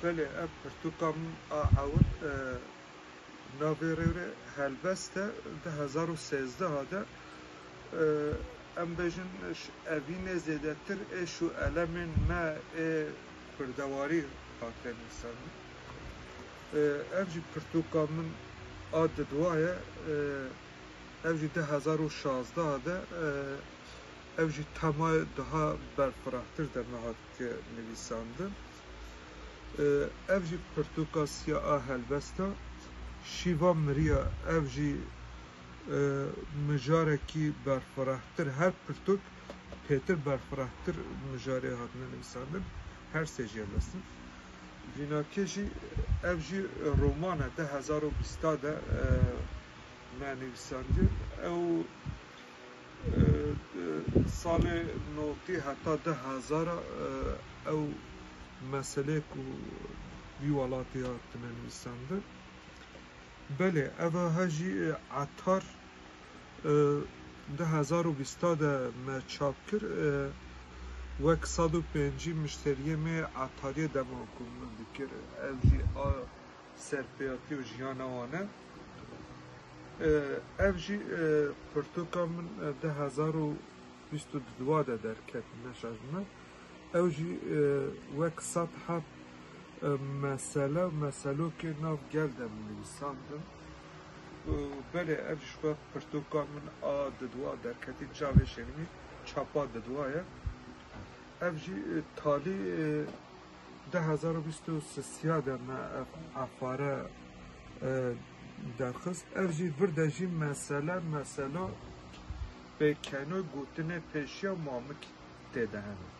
Belê ev pirtûka min a ewil e, navê rêwrê helbest e di hezar û sêzdeh de e, em bêjin ş- evînê zêdetir êş û elemên me ê kurdewarî hate nivîsandin. Ev jî pirtûka min a didwa ye. Ev jî di hezar û şazdeh de ev jî tema daha berfirahtir de me hat nivîsandin. Ev jî pirtûka siya a helbest e. Şîva miriya ev jî mijarekî berfirahtir her pirtûk pêtir berfirahtir mijarê hatine nivîsandin. Her sê jê helbest in. Vînakê jî ev jî roman e du hezar û bîst de me nivîsandiye. Ew di salê notî heta du hezar ew meseleyê ku vî welatî hatine nivîsandin. Belê ev a jî etar du hezar û bîst de me çap kir wek sed û pêncî mişteriyê me etariyê dema ku min dikir ev jî a serpêatî û jiyana wan e ev jî pirtûka min du hezar û bîst û du de derket neşazime ew jî wek sed heft mesele û meselokê nav gel de min nivîsandin Belê ev ji xwe pirtoka min a didwa derketî çavê şênimî çapa didwa ye. Ev jî talî du hezar û bîst û sisiya de me ev efare derxist. Ev jî vir de jî mesele mesela pêkeno gotinê pêşiya mamik tê de hene.